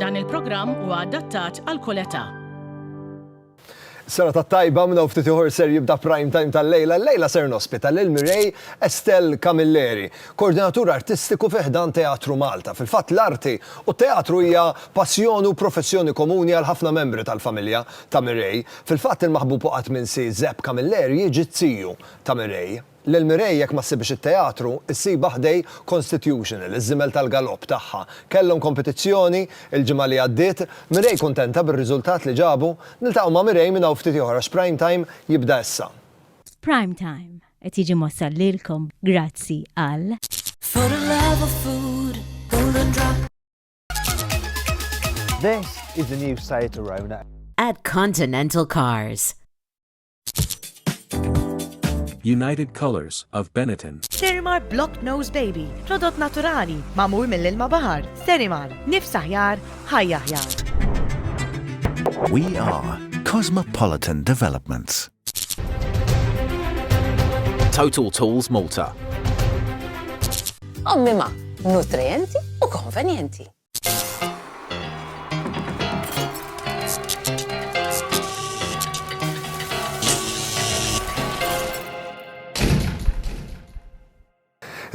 Dan il-programm huwa adattat għal kull età. Sena ta' tajba minn hawn ftit ieħor ser jibda prime time tal-lejla. Lejla ser nospita lil Mireille Estelle Camilleri, koordinatur artistiku fi ħdan Teatru Malta. Fil-fatt l-arti u t-teatru hija passjoni u professjoni komuni għal ħafna membri tal-familja ta' Mireille. Fil-fatt il-maħbub u qatt minsi Zep Camilleri jiġi t-tiju ta' Mireille. Lil Mireille jekk ma ssibhiex it-teatru, issibha ħdej Constitutional, iż-żiemel tal-galopp tagħha. Kellhom kompetizzjoni, il-ġimgħa li għaddiet. Mireille kuntenta bir-riżultat li ġabu. Niltaqgħu ma' Mireille minn hawn ftit ieħor għax Prime Time jibda issa. Prime Time qed jiġi mwassal lilkom grazzi għal. This is the new Seat Arona. At Continental Cars. United Colors of Benetton. Serimar Block Nose Baby, prodott naturali, mamur mill-ilma bahar. Serimar, nifs aħjar, ħajja aħjar. We are Cosmopolitan Developments. Total Tools Malta. Ommima, nutrienti u konvenjenti.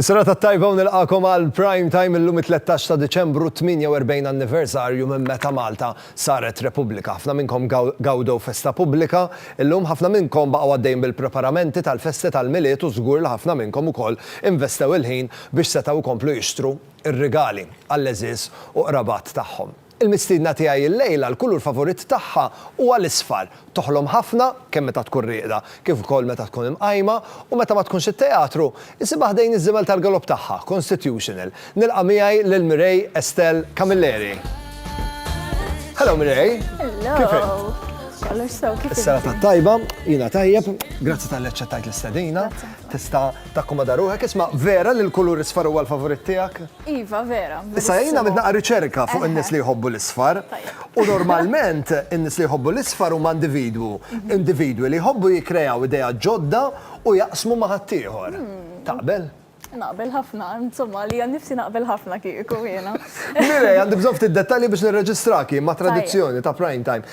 Is-sena ta' tajba u nilqakom għal prime time illum 13 ta' Deċembru 48 anniversarju minn meta Malta saret Repubblika. Ħafna minnkom gawdew festa pubblika, illum ħafna minnkom baqgħu għaddejn bil-preparamenti tal-festi tal-Milied u żgur li ħafna minnkom ukoll investew il-ħin biex setgħu jkomplu jixtru ir-rigali għall-għeżież u qrabat tagħhom. Il-mistiedna tiegħi llejla, l-kulur favorit tagħha huwa l-isfar. Toħlom ħafna, kemm meta tkun rieqda, kif ukoll meta tkun imqajma, u meta ma tkunx it-teatru, isibha ħdejn iż-żiemel tal-galopp tagħha, Constitutional. Nilqa' miegħi lil Mireille Estelle Camilleri. Hello Mireille. Hello. Kif int? Kollox sew, kif int? Is-serata tajba, jiena tajjeb, grazzi tal-li aċċettajt l-istedina. Tista' takkomoda ruħek, isma' vera li l-kulur isfar huwa l-favorit tiegħek? Iva, vera. Issa jien għamilt naqra riċerka fuq in-nies li jħobbu l-isfar. U normalment in-nies li jħobbu l-isfar huma individwu. Individwi li jħobbu jikkrejaw ideat ġodda u jaqsmu ma' ħaddieħor. Taqbel? Naqbel ħafna, insomma għalija nnifsi naqbel ħafna kieku jiena. Mireia, għandi bżonn ftit dettalji biex nirreġistrak jien ma' tradizzjoni ta' Prime Time.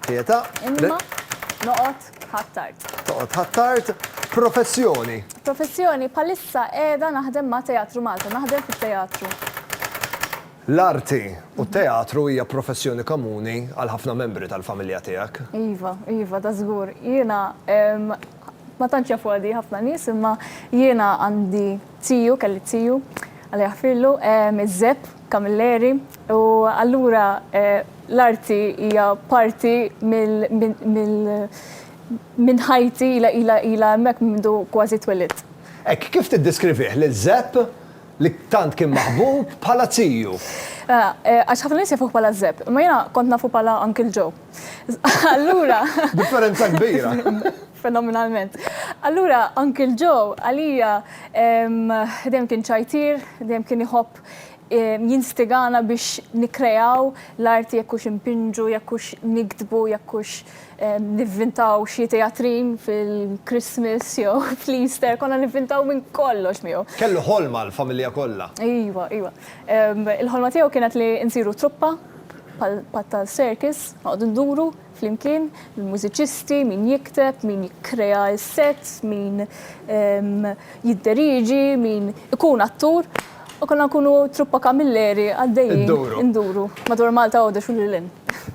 Pietà. Imma noqgħod Ħ'Attard. Toqgħod Ħ'Attard. Professjoni. Professjoni, bħalissa qiegħda naħdem ma' Teatru Malta, naħdem fit-teatru. L-arti u t-teatru hija professjoni komuni għal ħafna membri tal-familja tiegħek. Iva, iva, ta' żgur. Jiena ma tantx jafuha di ħafna nies imma jiena għandi tiju, kelli tiju, Alla jaħfirlu, iż-Żepp. Camilleri, U allura l-arti hija parti minn ħajti, ilha hemmhekk minn mindu kważi twelidt. Hekk kif tiddiskrivih lil Żepp, li tant kien maħbub, bħala ziju? Għax ħafna nies jafuh bħala Żepp, imma jiena kont nafu bħala Uncle Joe. Allura. Differenza kbira! Fenomenalment. Allura Uncle Joe għalija dejjem kien ċajtier, dejjem kien iħobb jitlob, jinstigana biex nikkreaw l-arti jekk hux inpinġu, jekk hux niktbu, jekk hux nivvintaw xi teatrin fil-Christmas jew fl-Easter, konna nivvintaw minn kollox miegħu. Kellu ħolma għall-familja kollha. Iva, iva. Il-ħolma tiegħu kienet li nsiru truppa bħal tal-circus, noqogħdu nduru. flimkien, il-mużiċisti, min jikteb, min jikkrea s-sets, min jidderieġi, min ikun attur, u konna nkunu truppa kamilleri għaddejjin induru madwar Malta Għawdex u lil hinn.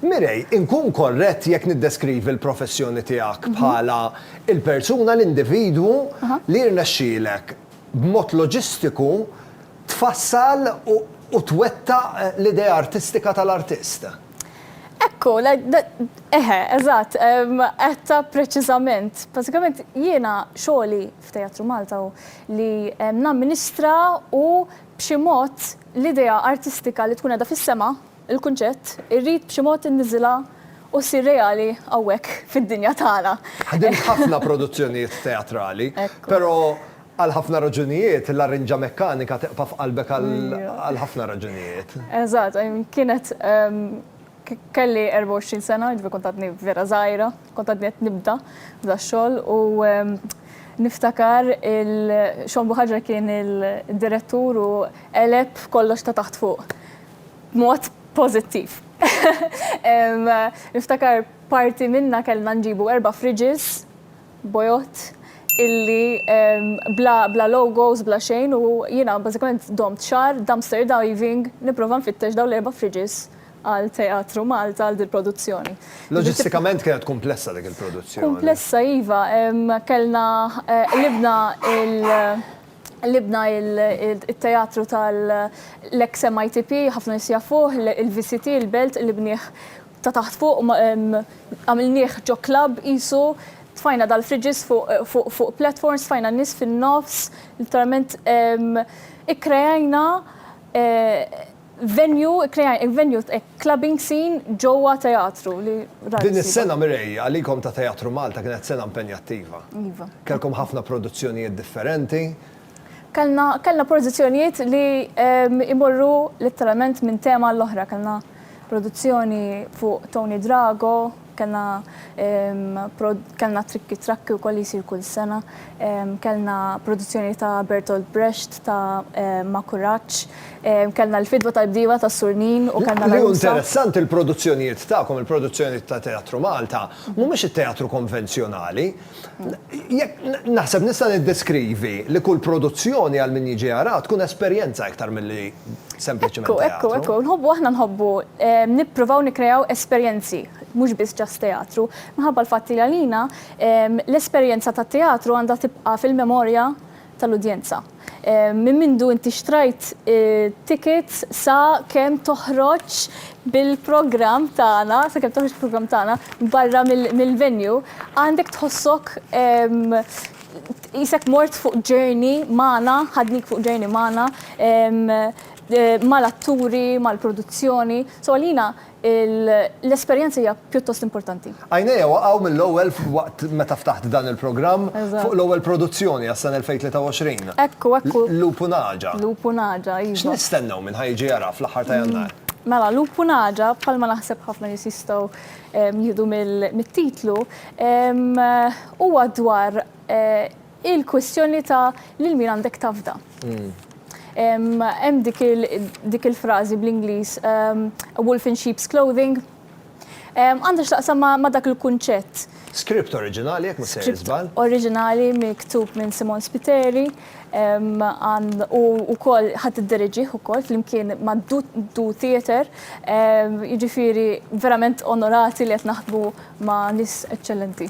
Mirej, inkun korrett jekk niddeskrivi l-professjoni tiegħek bħala l-persuna, l-individwu li jirnexxielek b'mod loġistiku tfassal u twettaq l-idea artistika tal-artist? Ekku, eħe, eżatt, għedtha preċiżament. Bażikament jiena xogħli f'Teatru Malta hu li namministra u b'xi mod l-idea artistika li tkun qiegħda fis-sema, il-kunċett, irrid b'xi mod inniżilha u ssir reali hawnhekk fid-dinja tagħna. Ħdimt ħafna produzzjonijiet teatrali, però Għal ħafna raġunijiet, laryngia mekkanika tibqa' f'qalbek għal ħafna raġunijiet. Eżatt, kienet kelli 24 sena, jiġifieri kont għadni vera żgħira, kont għadni qed nibda f'dax-xogħol u niftakar il-Shawn Buhagiar kien id-direttur u qeleb kollox ta' taħt fuq b'mod pożittiv. Niftakar parti minnha kellna nġibu erba' fridges bojott illi bla bla logos bla xejn u jiena bażikament domt xahar dumpster diving nipprova nfittex dawn l-erba' fridges għal Teatru Malta għal dil-produzzjoni. Loġistikament kienet kumplessa dik il-produzzjoni. Kumplessa iva, kellna qlibna il qlibna il it-teatru tal l-eks MITP ħafna nies jafuh, il-VCT, il-Belt qlibnieh ta' taħt fuq għamilnieh ġo club qisu, tfajna dal-fridges fuq platforms, tfajna n-nies fin-nofs, literalment ikkreajna venue, ikkreajna venue, clubbing scene ġewwa teatru li rari ssib. Din is-sena, Mireille, għalikom ta' Teatru Malta kienet sena impenjattiva. Iva. Kellkom ħafna produzzjonijiet differenti. Kellna kellna pożizzjonijiet li jmorru letteralment minn tema għall-oħra. Kellna produzzjoni fuq Tony Drago, kellna kellna Trikki Trakki wkoll li jsir kull sena, kellna produzzjoni ta' Bertolt Brecht ta' Ma' Kuraġġ, kellna l-Fidwa tal-Bdiewa ta' Sur Nin u kellna l-Għarusa. Li hu interessanti l-produzzjonijiet tagħkom, il-produzzjonijiet ta' Teatru Malta, mhumiex it-teatru konvenzjonali. Jekk naħseb nista' niddeskrivi li kull produzzjoni għal min jiġi jaraha tkun esperjenza iktar milli sempliċiment teatru. Ekku, ekku, ekku. Nħobbu aħna nħobbu nippruvaw nikkreaw esperjenzi, mhux biss just teatru. Minħabba l-fatt li għalina l-esperjenza tat-teatru għandha tibqa' fil-memorja tal-udjenza. Minn mindu inti xtrajt it-tickets sa kemm toħroġ bil-programm tagħna, sa kemm toħroġ bil-programm tagħna barra mill-venue, għandek tħossok qisek mort fuq journey magħna, ħadnik fuq journey magħna, mal-atturi, mal-produzzjoni. So għalina L-esperjenza hija pjuttost importanti. Għajnejja waqgħu mill-ewwel waqt meta ftaħt dan il-programm fuq l-ewwel produzzjoni għas-sena 2023. Hekk hu, hekk hu. Lupu Naġa. Lupu Naġa, iva. X'nistennew minn ħa jiġi jara fl-aħħar ta' Jannar? Mela, Lupu Naġa, bħalma naħseb ħafna nies jistgħu jieħdu mit-titlu, huwa dwar Il-kwistjoni ta' lil min għandek tafda. Hemm dik il-frażi bl-Ingliż a wolf in sheep's clothing. Għandha x'taqsam ma' dak il-kunċett. Skript oriġinali jekk ma sejjer żball. Skript oriġinali miktub minn Simon Spiteri u wkoll ħadd iddiriġih ukoll flimkien ma' Du Theatre. Jiġifieri verament onorati li qed naħdmu ma' nies eċċellenti.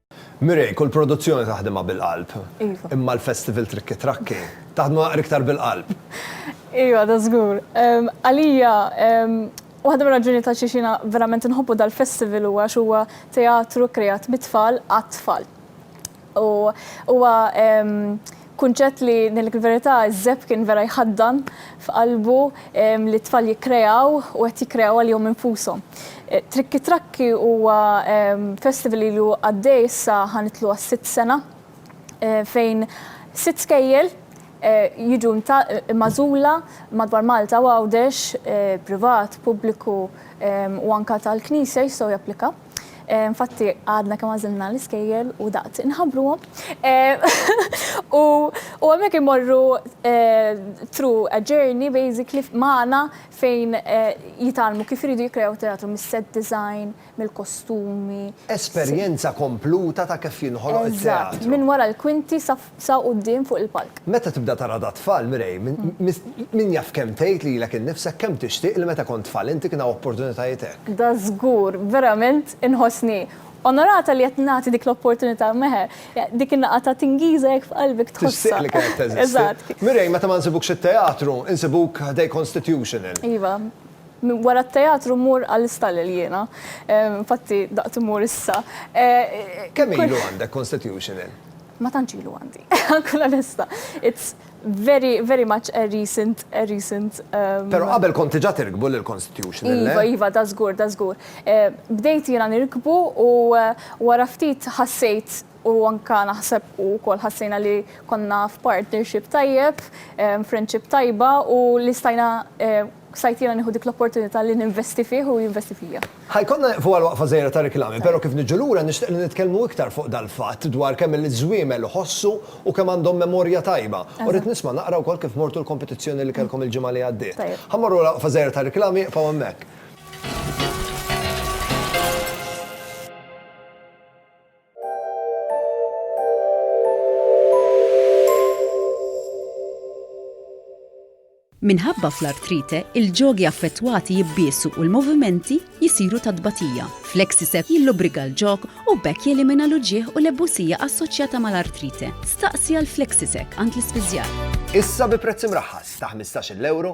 Mireille, kull produzzjoni taħdimha bil-qalb. Iva. Imma l-festival Trikki Trakki, taħdmu naqra iktar bil-qalb. Iva, da żgur. Għalija, waħda mir-raġunijiet għal xiex jiena verament inħobbu dal-festival huwa għax huwa teatru krijat mit-tfal għat-tfal. U huwa Kunċett li, ngħidlek il-verità, iż-żebb kien vera jħaddan f'qalbu li t-tfal jikkreaw u qed jikkreaw għalihom infushom. Trikki Trakki huwa festival li ilu għaddej issa ħa nidħlu għas-sitt sena fejn sitt skejjel jiġu magħżula madwar Malta u Għawdex, privat, pubbliku u anke tal-Knisja jistgħu japplikaw. Infatti għadna kemm għażilna l-iskejjel u daqt inħabbruhom. U u hemmhekk imorru through a journey basically magħna fejn jitgħallmu kif iridu jikkrejaw teatru mis-set design, mill-kostumi. Esperjenza kompluta ta' kif jinħoloq it-teatru. Eżatt, minn wara l-kwinti sa Sa quddiem fuq il-palk. Meta tibda tara dat-tfal, Mireille, min jaf kemm tgħid lilek innifsek kemm tixtieq li meta kont tfal inti kien hawn opportunitajiet hekk. Da żgur, verament inħossni onorata li qed nagħti dik l-opportunità Meher. Dik in-nagħqa ta' tingiża hekk f'qalbek tħossha. Tixtieq li kienet teżisti. Eżatt. Mireille, meta ma nsibukx it-teatru, insibuk ħdej Constitutional. Iva. Wara t-teatru mmur għall-istallel jiena. Infatti daqt immur issa. Kemm ilu għandek Constitutional? Ma tantx ilu għandi. Nkun onesta. It's very, very much a recent, a recent. Però qabel kont diġà tirkbu lill-Constitution, le? Iva, iva, da żgur, da żgur. Bdejt jiena nirkbu u wara ftit ħassejt u anke naħseb u wkoll ħassejna li konna f'partnership tajjeb, friendship tajba u li stajna Sajt jiena nieħu dik l-opportunità li ninvesti fih u jinvesti fija. Ħa jkollna nieqfu għal waqfa żgħira ta' riklami, però kif niġu lura nixtieq li nitkellmu iktar fuq dal-fatt dwar kemm il-żwiemel iħossu u kemm għandhom memorja tajba. U rrid nisma' naqra wkoll kif mortu l-kompetizzjoni li kellkom il-ġimgħa li għaddiet. Ħa mmorru għal waqfa żgħira ta' riklami, iqfgħu hemmhekk. Minħabba fl-artrite, il-ġogi affettwati jibbiesu u l-movimenti jisiru ta' tbatija. Flexicep jillubrika l-ġog u b'hekk jelimina l-uġigħ u l-ebbusija assoċjata mal-artrite. Staqsi għal Flexicep għand l-ispiżjar. Issa bi prezz imraħħas ta' 15-il ewro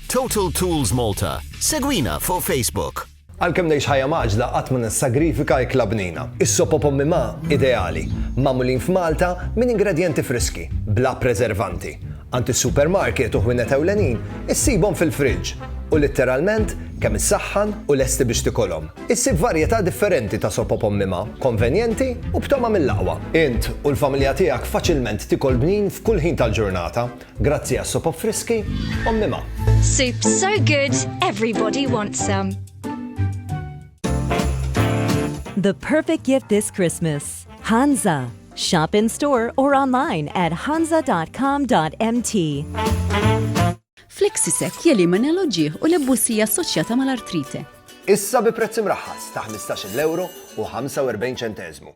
Total Tools Malta, segwina fuq Facebook. Għalkemm ngħix ħajja mgħaġġla qatt ma nissagrifika ikla bnina. Is-sopop Ommi Ma ideali, magħmulin f'Malta minn ingredjenti friski, bla preservanti. Għand is-supermarket u ħwienet ewlenin issibhom fil-fridge u litteralment kemm issaħħan u lesti biex tikolhom. Issib varjetà differenti ta' sopop Ommi Ma, konvenjenti u b'togħma mill-aqwa. Int u l-familja tiegħek faċilment tikol bnin f'kull ħin tal-ġurnata Grazzi għas-sopop friski, Ommi Ma. Soup so good, everybody wants some. The perfect gift this Christmas. Hansa. Shop in store or online at hansa.com.mt. Flexisec jelimina l-oġieħ u l-ebbusija assoċjata mal-artrite. Issa bi prezz imraħħas ta' 15 euro u 45 ċentezmu.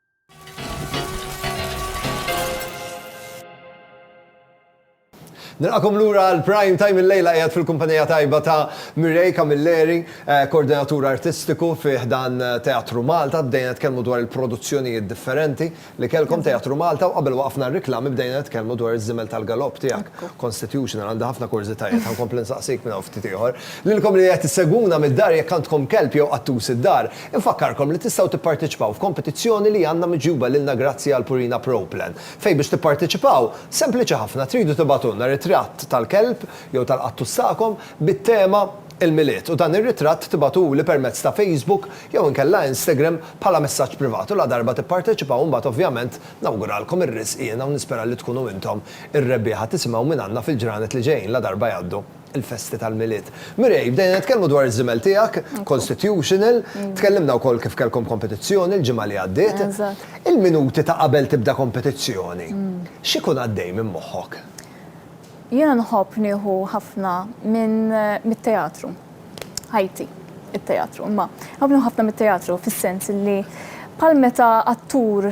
Nilqakom lura għal Prime Time il-lejla qiegħed fil-kumpanija tajba ta' Mirej Camilleri, eh, koordinatur artistiku fi dan eh, Teatru Malta, bdejna tkellmu dwar il-produzzjonijiet differenti li kellkom Teatru Malta u qabel waqfna r-riklami bdejna tkellmu dwar iż-żimel tal-galop tiegħek. Constitution għandha ħafna kurżitajiet ħankompli nsaqsik minn ftit ieħor. Lilkom li qed issegwuna mid-dar jekk għandkom kelb jew qattus id-dar, Infakkarkom li tistgħu tipparteċipaw f'kompetizzjoni li għandna miġjuba lilna grazzi għal Purina Pro Plan, fejn biex tipparteċipaw, sempliċi ħafna, tridu tibagħtulna ritratt tal-kelb jew tal-qattus tagħkom bit-tema Il-Milied u dan ir-ritratt tibagħtuli permezz ta' Facebook jew inkella Instagram bħala messaġġ privat u ladarba tipparteċipaw imbagħad ovvjament nawguralkom ir-riżq jiena u nispera li tkunu intom ir-rebbieħa tisimgħu mingħandna fil-ġranet li ġejjin ladarba jgħaddu il-festi tal-Milied. Mireille, bdejna nitkellmu dwar iż-żiemel tiegħek, Constitutional, tkellimna wkoll kif kellkom kompetizzjoni l-ġimgħa li għaddiet. Il-minuti ta' qabel tibda kompetizzjoni, x'ikun għaddej minn moħħok? Jiena nħobb nieħu ħafna mit-teatru. Ħajti t-teatru, imma nħobb nieħu ħafna mit-teatru fis-sens li bħal meta attur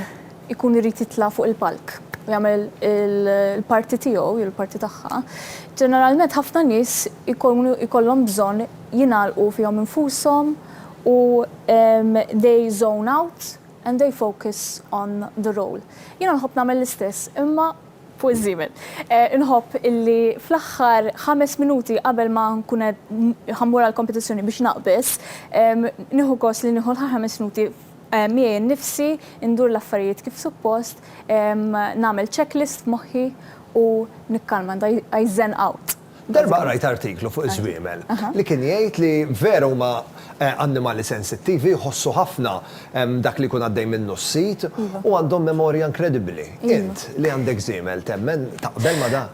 ikun irid jitla' fuq il-palk u jagħmel il-parti tiegħu jew il-parti tagħha, ġeneralment ħafna nies ikunu jkollhom bżonn jingħalqu fihom infushom u they zone out and they focus on the role. Jiena nħobb nagħmel l-istess imma fuq żiemel. Inħobb illi fl-aħħar ħames minuti qabel ma nkun qed ħammur għall-kompetizzjoni biex naqbeż, nieħu gost li nieħu l-aħħar ħames minuti, Miegħi nnifsi, indur l-affarijiet kif suppost, nagħmel checklist f'moħħi u nikkalma, I zen out. Darba qrajt artiklu fuq iż-żwiemel li kien jgħid li vera huma annimali sensittivi, jħossu ħafna dak li jkun għaddej minnu s-sid u għandhom memorja inkredibbli. Int, li għandek żiemel, temmen, taqbel ma' dan?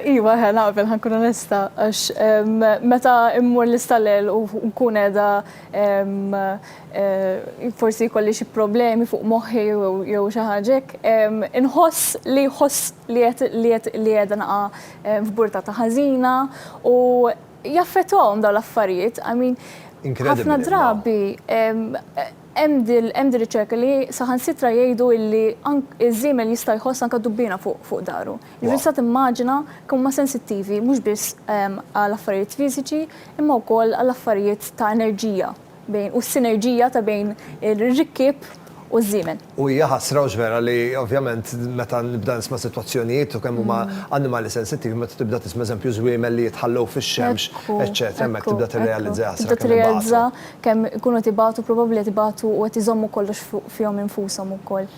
Iva, naqbel, ħa nkun onesta, għax meta mmur l-istallel u nkun qiegħda forsi jkolli xi problemi fuq moħħi jew xi ħaġa hekk, inħoss li jħoss li qed li qed li qiegħda naqa' f'burta ta' ħażina u jaffettwahom dawn l-affarijiet. I mean, ħafna drabi hemm din hemm din riċerka li saħansitra jgħidu illi ank iż-żiemel jista' jħoss anke dubbiena fuq fuq daru. Jiġifieri tista' timmaġina kemm huma sensittivi mhux biss għal affarijiet fiżiċi imma wkoll għal affarijiet ta' enerġija. bejn u s-sinerġija ta' bejn ir-rikkieb u ż-żiemel. U hija ħasra hux vera li ovvjament meta nibda nisma' sitwazzjonijiet u kemm huma annimali sensittivi meta tibda tisma' eżempju żwiemel li jitħallew fix-xemx eċċetera hemmhekk tibda tirrealizza hija ħasra kemm ibatu. Tibda tirrealizza kemm ikunu qed ibatu probabbli qed ibatu u qed iżommu kollox fihom infushom ukoll.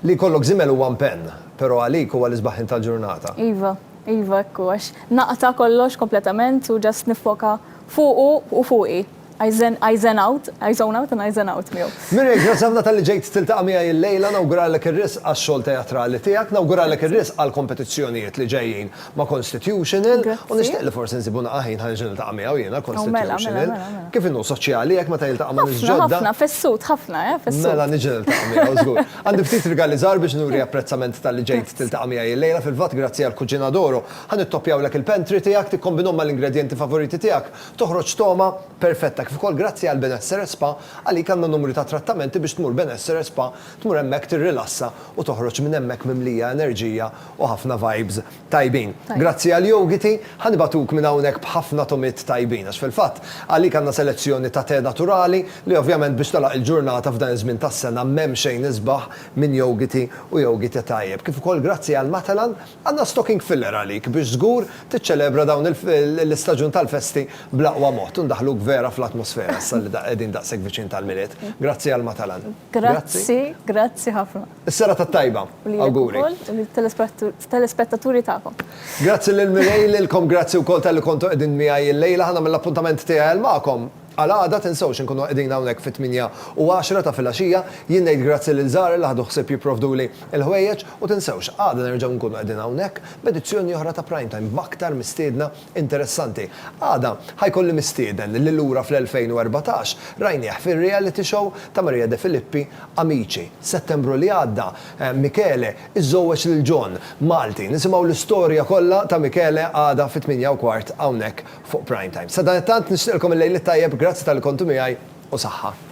Li jkollok żiemel huwa mpenn, però għalik huwa l-isbaħħin tal-ġurnata. Iva, iva hekk hu għax naqta' kollox kompletament u just niffoka fuqu u fuqi. I zen, I zen out, I zone out and I zen out miegħu. Mireille, grazzi ħafna talli ġejt tiltaqa' miegħi illejla, nawguralek ir-risq għax-xogħol teatrali tiegħek, nawguralek ir-risq għall-kompetizzjonijiet li ġejjin ma' Constitutional, u nixtieq li forsi nsibu naqgħa ħin ħa nerġa' niltaqa' miegħu jiena Constitutional. Kif inhu soċjali hekk meta jiltaqa' ma' nies ġodda. Ħafna, ħafna, fessut ħafna, eh, fessut. Mela niġi niltaqa' miegħu żgur. Għandi ftit rigali żgħar biex nuri apprezzament talli ġejt tiltaqa' miegħi illejla, fil-fatt grazzi għall-Cucina d'Oro ħa nittoppjawlek il-pantry tiegħek, tikkombinhom mal-ingredjenti favoriti tiegħek, Toħroġ togħma perfetta kif ukoll grazzi għal Benessere Spa għalik għandna numru ta' trattamenti biex tmur Benessere Spa, tmur hemmhekk tirrilassa u toħroġ minn hemmhekk mimlija enerġija u ħafna vibes tajbin. Grazzi għal Yogiti, ħa nibagħtuk minn hawnhekk b'ħafna togħmiet tajbin għax fil-fatt għalik għandna selezzjoni ta' te naturali li ovvjament biex tagħlaq il-ġurnata f'dan iż-żmien tas-sena m'hemm xejn isbaħ minn Yogiti u Yogite tajjeb kif ukoll grazzi għal Matalan Għandna stocking filler għalik biex żgur tiċċelebra dawn l-istaġun tal-festi bl-aqwa mod u ndaħħluk vera fl-atmosfera issa li qegħdin daqshekk viċin tal-Milied. Grazzi għal Matalan. Grazzi, grazzi ħafna. Is-serata t-tajba. U lilek ukoll u lill-telespettaturi tagħkom. Grazzi lil Mireille, lilkom grazzi wkoll talli kontu qegħdin miegħi llejla. Ħa nagħmel l-appuntament tiegħi għal magħkom. Għal għada, tinsewx inkunu qegħdin hawnhekk fit-tmienja u għaxra ta' filgħaxija, jien ngħid grazzi lil Zahra li ħadu ħsieb jipprovduli l-ħwejjeġ u tinsewx, għada nerġgħu nkunu qegħdin hawnhekk b'edizzjoni oħra ta' Prime Time b'aktar mistiedna interessanti. Għada ħa jkolli mistieden li lura fl-2014 rajnieh fir-reality show ta' Maria De Filippi Amici. Settembru li għadda, Michele iżżowweġ lil John, Malti. Nisimgħu l-istorja kollha ta' Michele għada fit-tmienja u kwart hawnhekk fuq Prime Time. Sadanittant nixtieqlkom il-lejl it-tajjeb, grazzi talli kontu miegħi u saħħa.